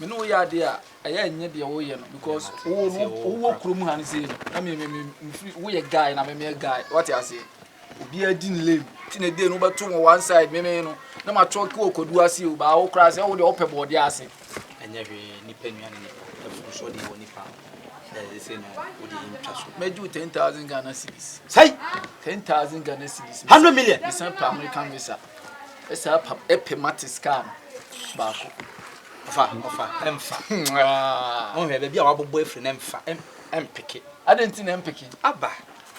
me ne wo yɛ adeɛ a ɛyɛ nyɛ deɛ woyɛ no because wo no wowɔ kurom ha no sei no na me me mfiri woyɛ guy na me meyɛ guy wate aseɛ obiara di ne lame ti na ɛdee no wobɛto wɔ one side me me no na matɔ ke wɔ kwadu ase o baa wo koraa sɛ wode wopɛ bɔɔde ase ɛnyɛ hwee nipa nnuane nipa ɛfo so deɛ wɔ nipa ɛsɛ no wode ntwa so mɛgye wo 10000 ghana cities sɛi 10000 ghana cities 100 million mesan pa american visa Ɛsɛ apam ɛpɛ matis kaa no baako. Ɔfa ɔfa ɛmfa. Ɔhwɛ ah. baabi a wabobɔ afiri no ɛmfa ɛmpeke. Ade nti na ɛmpeke. Aba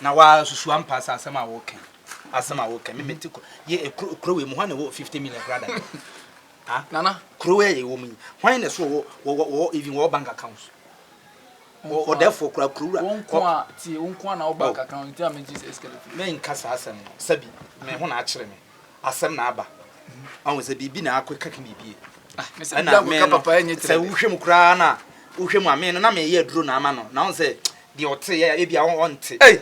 na wasusu ampa sɛ asɛm a wɔka asɛm a wɔka me mete kɔ yɛ kuro wei mu hɔ na ɛwɔ fifty million kora da ah. nana kuro wei a yɛwɔ mu yi hwan na so wɔ wɔ even wɔ bank account. Mo ɔdɛɛfoɔ kura kuruwura. Wo nko a, tie, wo nko a na wobaa oh. kakra nti a megye sɛ skeleton. Menka saa asɛm no, sɛbi me ho na akyere me, asɛm na aba. Ɔho sɛ biribi na akɔ kaka biribi. Ah, me sɛ biribi akɔ papa ɛnyɛ tirɛ. Sɛ wohwɛ mu koraa na wohwɛ mu a me no na meyɛ aduro na ama no na ɔn sɛ deɛ ɔte yɛ ebi a ɔnte. Hey!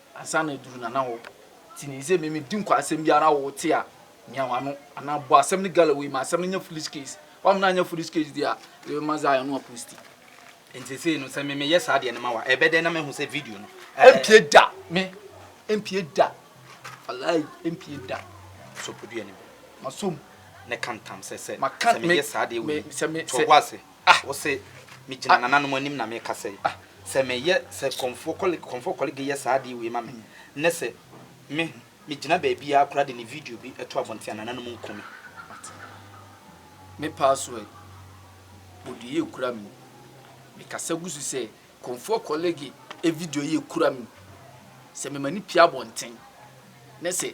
Ansa na aduru Nana hɔ nti nim sɛ me medi nkwa asɛm biara wo te a mia w'ano anaa bɔ asɛm no Galloway ma asɛm no nyɛ foolish case w'amena anyɛ foolish case deɛ a yɛbɛ ma Zion no a posti. Nti sesei no sɛ me me yɛ saa deɛ no ma wa ɛbɛ dɛn na me hu sɛ video no ɛɛ. Ɛmpie da me ɛmpie da walayi ɛmpie da. Sopo dua no bi ma som. Ne ka ntam sɛ sɛ sɛ me yɛ saa deɛ wei to wo ase. Ah, wose megyina nananom anim na mekasa yi? Ah, sɛ meyɛ sɛ Kɔmfoɔ Kɔlig, Kɔmfoɔ Kɔlig yɛ saa adeɛ wei ma me nnɛ sɛ me, megyina baabiara koraa de ne video bi to abɔnten a nananom nku me. But me password, wɔde yɛ kura me. Mekasa gu so sɛ Kɔmfoɔ Kɔlig video yɛ kura me. Sɛ mem'ani pue abɔnten na sɛ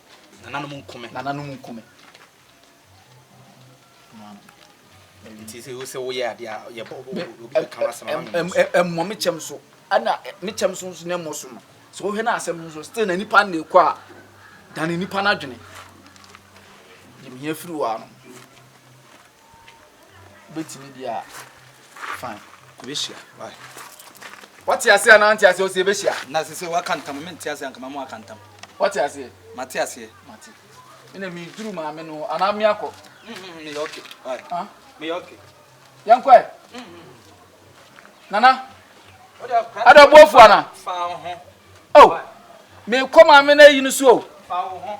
Nananom nko me. Nananom nko me. Nti sɛ wosɛ woyɛ adeɛ a yɛbɔ obi bɛka w'asɛm ama me mu so. Ɛmmɔ me kyɛm so ɛna me kyɛm so nso na ɛmmɔ so ma. Sɛ wohwɛ no asɛm no nso still na nipa no ɛkɔ a dane nipa no adwene. Yɛmhia firi wɔ ano. Wobɛtumi deɛ a, fine. Yɛbɛhyia. Bye. Wate aseɛ anaa nte aseɛ ɔsɛ yɛbɛhyia? Na sɛ sɛ waka ntam, mente aseɛ anka mama waka ntam. Wate aseɛ? Mate aseɛ. Mate. Ɛna meduru maame no anaa me akɔ? Mm-hmm, meyɛ okay. Bye. Huh? Meyɛ okay. Yɛnkɔ ɛ? Mm-hmm. Nana. Ada bu afu ana? Fa wo ho. Oh. Mekɔ maame no ayi no so o. Fa wo ho.